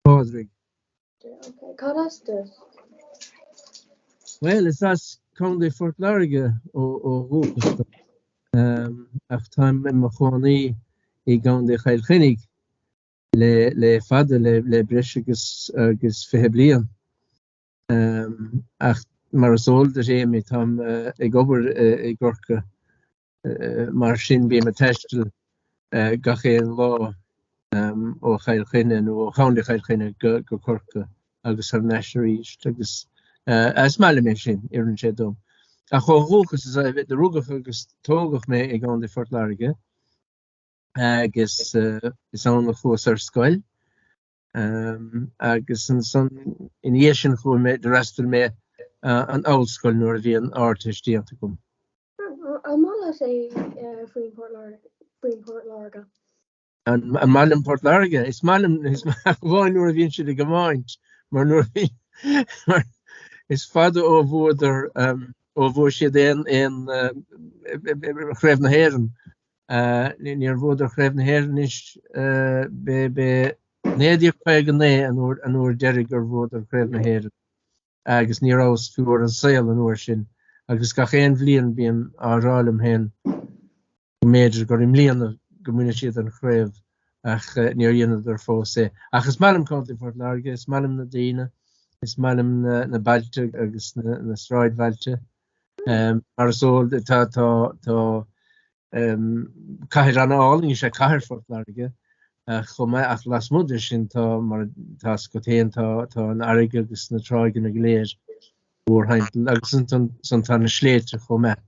Pádraig. Cad as duit? Bhuel, is as Contae Phort Láirge ó dhúchas dom, ach táim i mo chónaí i gContae Chill Chainnigh le fada, le breis agus, agus fiche bliain. Ach mar is eol duit Amy, táim ag obair i gCorcaigh mar sin bím ag taisteal gach aon lá ó Chill Chainnigh nó ó Chontae Chill Chainnigh go Corcaigh agus thar n-ais arís agus is maith liom é sin, oireann sé dom. Ach ó dhúchas, is, do rugadh agus tógadh mé i gContae Phort Láirge agus is ann a chuas ar scoil. agus ansan ina dhiaidh sin chuaigh mé d'fhreastail mé ar an ollscoil nuair a bhí an Ardteist déanta agam. An maith leat é faoin Port faoin Port Láirge? An maith liom Port Láirge? Is maith liom iad ach amháin nuair a bhíonn siad ag iomáint mar nuair a bhí mar is fada ó bhuadar ó bhua siad aon chraobh na hÉireann Níor bhuadar Craobh na hÉireann anois, ba é 1959 an uair dheiridh gur bhuadar Craobh na hÉireann agus ní rabhas fiú ar an saol an uair sin agus gach aon bhliain bím á rá liom féin go mb'fhéidir gur i mbliana go mbuafaidh siad an chraobh ach níor dheineadar fós é. Ach is maith liom Contae Phort Láirge, is maith liom na daoine, is maith liom na bailte agus na sráidbhailte. Mar is eol duit, tá cathair an-álainn is ea cathair Phort Láirge chomh maith, ach lasmuigh de sin, tá, mar atá sa gcontae féin, tá an fharraige agus na tráigheanna go léir mhórthimpeall, agus ansan tá na sléibhte chomh maith.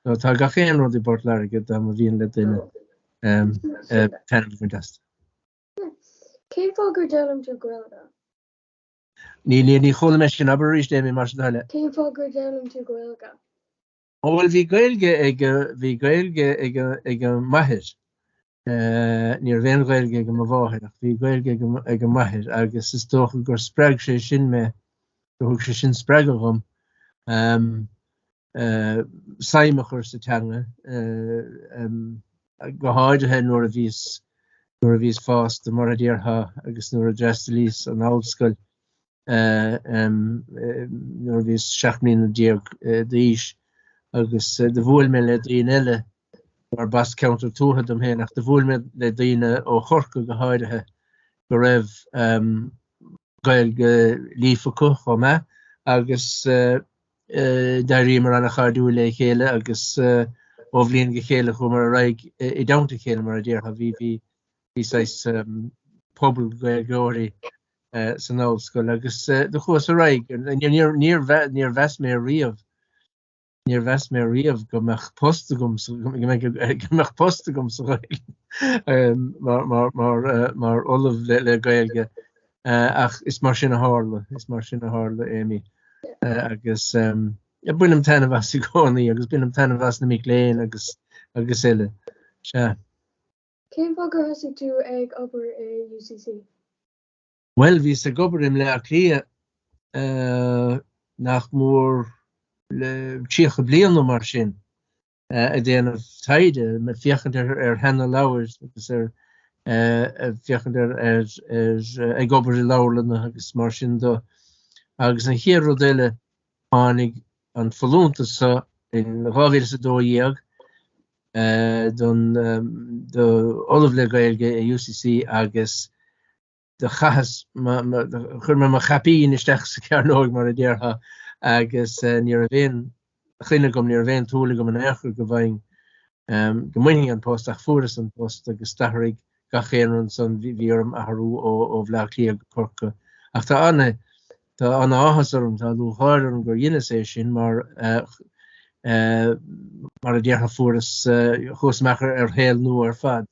So tá gach aon rud i bPort Láirge dá mba mhian le duine taitneamh a bhaint astu. Cén fáth gur d'fhoghlaim tú Gaeilge? Ní, ní, ní chuala mé sin. Abair arís, é, Amy, más é do thoil é. Cén fáth gur d'fhoghlaim tú Gaeilge? Ó bhuel bhí Gaeilge ag a, bhí Gaeilge ag a, ag m'athair. Ní raibh aon Ghaeilge ag a mo mháthair ach bhí Gaeilge ag a, ag m'athair agus is dócha gur spreag sé sin mé, gur thug sé sin spreagadh dhom. suim a chur sa teanga, go háirithe nuair a bhíos, nuair a bhíos fásta, mar a déarfá, agus nuair a d'fhreastalaíos ar an ollscoil, nuair a bhíos seacht mbliana déag d'aois, agus do bhuail mé le daoine eile, mar ba as ceantar tuaithe dom féin, ach do bhuail mé le daoine ó Chorcaigh go háirithe, go raibh, Gaeilge líofa acu chomh maith agus d'éiríomar an-chairdiúil le chéile agus ó bhliain go chéile chuamar ar aghaidh i dteannta a chéile mar a déarfá. Bhí bhí bhí saghas pobal Gaeilgeoirí san ollscoil agus do chuas ar aghaidh. Níor níor níor mheas mé riamh Níor mheas mé riamh go mbeadh post agam sa Ghaeilge mar ollamh le Gaeilge ach is mar sin a tharla, is mar sin a tharla, Amy. Agus bainim taitneamh as i gcónaí agus bainim taitneamh as na mic léinn agus eile. Sea. Cén fáth gur thosaigh tú ag obair i UCC? Bhuel, bhíos ag obair i mBleá Cliath nach mór le tríocha bliain nó mar sin ag déanamh taighde, ag féachaint ar sheanleabhair agus ar ag féachaint ar ag obair i leabharlanna agus mar sin do. Agus an chéad rud eile tháinig an folúntas seo in 2012 don do Ollamh le Gaeilge i UCC agus do chaitheas mo, do chuir mé mo chaipín isteach sa chearnóig mar a déarfá agus ní raibh aon choinne agam, ní raibh aon tsúil agam in aon chor go bhfaighinn, go mbainfinn an post ach fuaireas an post agus d'athraigh gach aon ní ansan, bhí orm athrú ó Bhleá Cliath go Corca ach tá ana, tá ana-áthas orm, tá lúcháir orm gur dheineas é sin mar, mar a déarfá fuaireas, chuas amach ar shaol nua ar fad.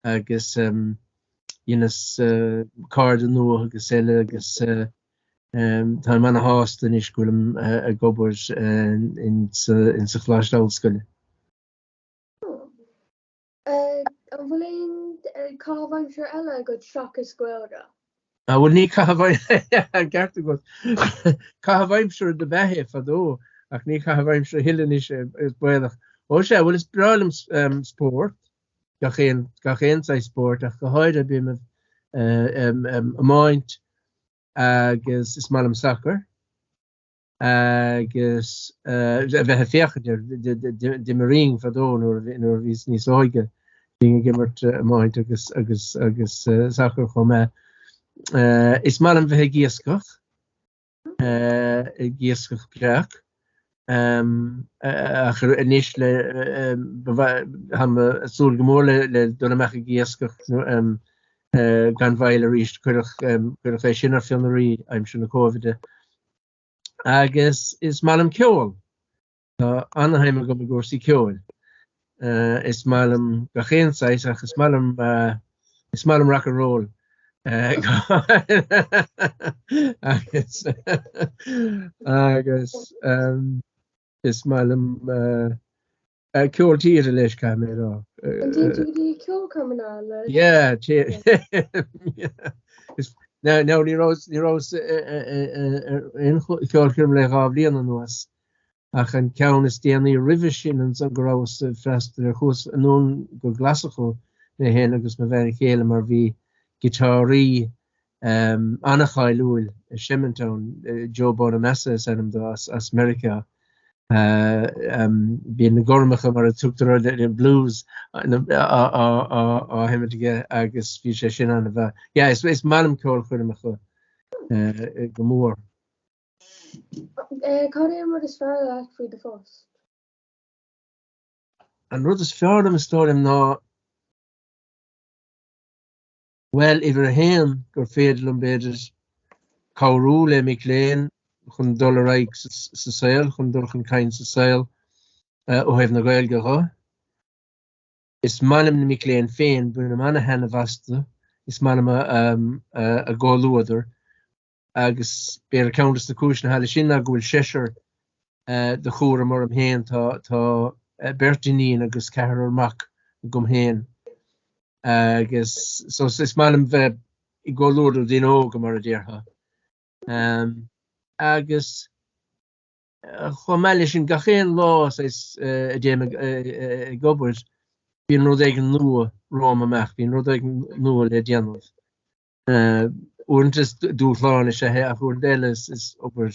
agus dheineas cairde nua agus eile agus táim ana shásta anois go bhfuilim ag obair ins an Choláiste Ollscoile. An bhfuil aon caitheamh aimsire eile agat seachas Gaeilge? Bhuel ní caitheamh aimsire, ceart agat, caitheamh aimsire dob ea é fadó ach ní caitheamh aimsire é a thuilleadh anois is baolach. Ó sea, bhuel is breá liom spórt, gach aon, gach aon saghas spóirt ach go háirithe b'fhéidir iomáint agus is maith liom sacar agus a bheith ag féachaint air, d'imrínn fadó nuair a bhíos níos óige, bhínn ag imirt iomáint agus, agus, agus sacar chomh maith. Is maith liom bheith ag iascach. ag iascach breac ach anois táim ag súil go mór le dul amach ag iascach gan mhoill arís cuireadh é sin ar fionraí aimsir na Cóivide. Agus is maith liom ceol. Tá ana-shuim agam i gcúrsaí ceoil. Is maith liom gach aon saghas ach is maith liom, is maith liom rock and roll. Agus agus is maith liom ceol tíre leis, caithfidh mé a rá. An dtéann tú go dtí ceolchoirmeacha? Yeah. Now ní rabhas ag ceolchoirm le dhá bhliain anuas. ach an ceann is déanaí roimhe sin ansan go rabhas ag freastal air chuas anonn go Glaschú, mé féin agus mo bhean chéile mar bhí giotáraí an-cháiliúil ag seimint ann, Joe Bonamassa is ainm do, as Meiriceá. Bíonn na gormacha mar a tugtar orthu, an blues á sheimint aige agus bhí sé sin ana mhaith. Yeah, is maith liom ceolchoirmeacha go mór. Cad é an rud is fearr leat faoi do phost? An rud is fearr liom is dóigh liom ná, bhuel, uimhir a haon, gur féidir liom, b'fhéidir, cabhrú le mic léinn chun dul ar aghaidh sa saol, chun dul chun cinn sa saol ó thaobh na Gaeilge dhe. Is maith liom na mic léinn féin, bainim an-taitneamh astu, is maith liom a gcomhluadar, agus b'fhéidir ceann des na cúiseanna leis sin ná go bhfuil seisear de chúram orm féin, tá beirt iníon agus ceathrar mac agam féin, agus so is maith liom bheith i gcomhluadar daoine óga, mar a déarfá. Agus chomh maith leis sin, gach aon lá is a dtéim ag obair, bíonn rud éigin nua romham amach, bíonn rud éigin nua le déanamh. Uaireanta is dúshlán is ea é ach uaireanta eile is obair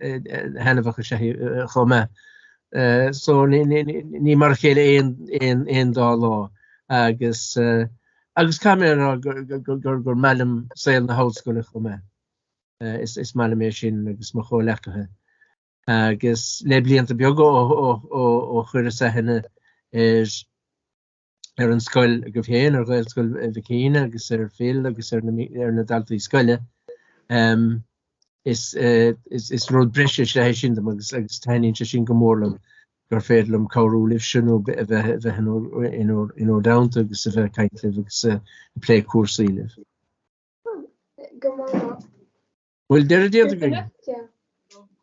thaitneamhach is ea é chomh maith. So ní mar a chéile aon dá lá agus agus caithfidh mé a rá gur maith liom saol na hollscoile chomh maith. Is maith liom é sin agus mo chomhleacaithe. Agus le blianta beaga ó chuireas aithne ar ar an scoil agaibh féin, ar Ghaelscoil Mhachan agus ar Phil agus ar na daltaí scoile. Is rud breise is ea é sin dom agus taitníonn sé sin go mór liom gur féidir liom cabhrú libhse agus a bheith in bhur dteannta agus a bheith ag caint libh agus ag plé cúrsaí libh. Go hana-mhaith. Bhfuil deireadh déanta againn?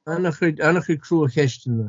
An-chuid crua cheisteanna.